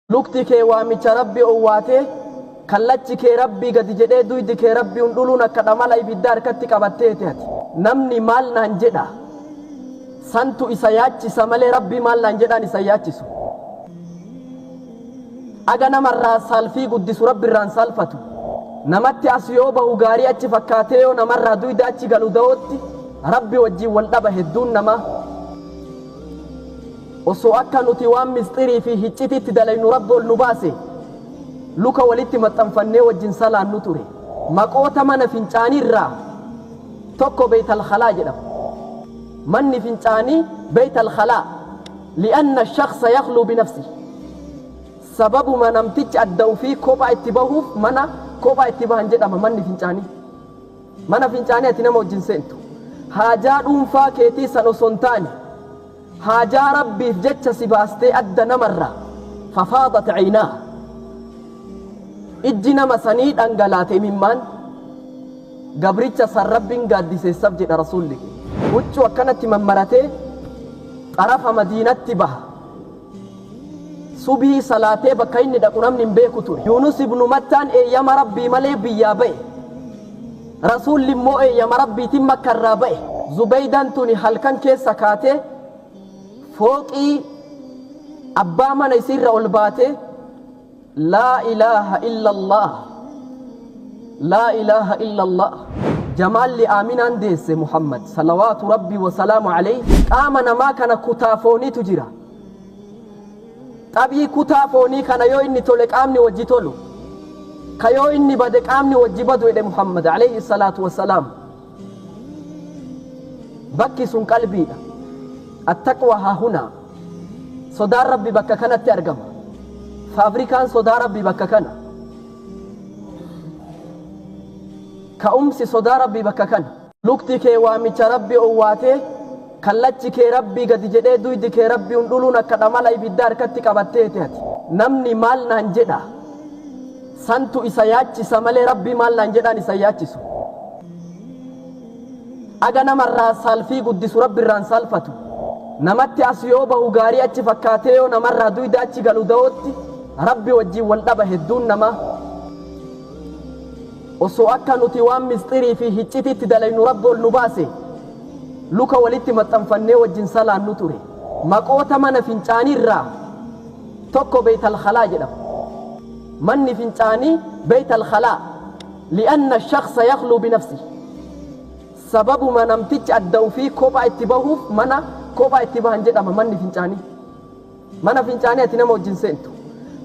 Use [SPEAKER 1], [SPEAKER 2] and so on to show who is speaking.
[SPEAKER 1] Lukti kee waamicha Rabbi owwaatee, kallachi kee Rabbii gadi jedhee duydi kee Rabbi undhuluun akka dhamala ibiddaa harkatti qabatteeti ati. Namni maal naan jedha? Santu isa yaachisa malee Rabbi maal naan jedhaan isa hin yaachisu. Aga nama irraa saalfii guddisu Rabbi irraa hin saalfatu. Namatti as yoo bahu gaarii achi fakkaatee yoo nama irraa duyda achi galu dawootti Rabbi wajjin wal dhaba hedduun namaa. Osoo akka nuti waan misxirii fi hiccitiitti dalaynu Rabbi ol nu baase, luka walitti maxxanfannee wajjin salaannu ture. Maqoota mana fincaanii irraa tokko Beyt al-Khalaa jedhama. Manni fincaanii Beyt al-Khalaa, li'anna ash-shakhsa yakhluu binafsihi. Sababuma namtichi adda ufii kophaa itti bahuuf mana kophaa itti bahan jedhama manni fincaanii. Mana fincaanii ati nama wajjin seentu, haajaa dhuunfaa keetii san osoo hin taane, Haajaa Rabbiif jecha si baastee adda namarraa fafaadat aynaaha ijji nama sanii dhangalaate imimmaan gabricha san Rabbiin gaaddiseessaf jedha Rasuulli keenya huccuu akkanatti mammaratee xarafa Madiinatti baha. Subhii salaatee bakka inni dhaqu namni hin beeku ture. Yuunus ibnu Mattaan eeyyama Rabbii malee biyyaa ba'e. Rasuulli immoo eeyyama Rabbiitin Makka irraa ba'e. Zubeeydan tuni halkan keessa kaatee fooqii abbaa mana isiirra ol baatee, Laa ilaaha illallah Laa ilaaha illallah Jamaalli Aaminaan deesse Muhammad salawaatu Rabbii wa salaamu aleyhi qaama namaa kana kutaa fooniitu jira. Xabii kutaa foonii kana yoo inni tole qaamni wajji tolu, ka yoo inni bade qaamni wajji badu jedhe Muhammad aleyhi salaatu wa salaam. Bakki sun qalbiidha. Attaqwa hahuna. Sodaan Rabbi bakka kanatti argama. Faabrikaan sodaa Rabbi bakka kana. Ka'umsi sodaa Rabbi bakka kana. Lukti kee waamicha Rabbi owwaatee, kallachi kee Rabbi gadi jedhee duydi kee Rabbi hundhuluun akka dhamala ibiddaa harkatti qabatteeti ati. Namni maal naan jedha? Santu isa yaachisa malee rabbii maal naan jedhaan isa hin yaachisu. Aga nama irraa saalfii guddisu rabbi irraa hin saalfatu. Namatti as yoo bahu gaarii achi fakkaatee yoo nama irraa duyda achi galu dawootti rabbi wajjin wal dhaba hedduun namaa. Osoo akka nuti waan misxirii fi hiccitiitti dalaynu rabbi ol nu baase luka walitti maxxanfannee wajjin salaannu ture. Maqoota mana fincaanii irraa tokko beeytal khalaa jedhama. Manni fincaanii Beyt al-Khalaa li'anna ash-shakhsa yakhluu binafsihi Sababuma namtichi adda ufii kophaa itti bahuuf mana kophaa itti bahan jedhama manni fincaanii. Mana fincaanii ati nama wajjin seentu.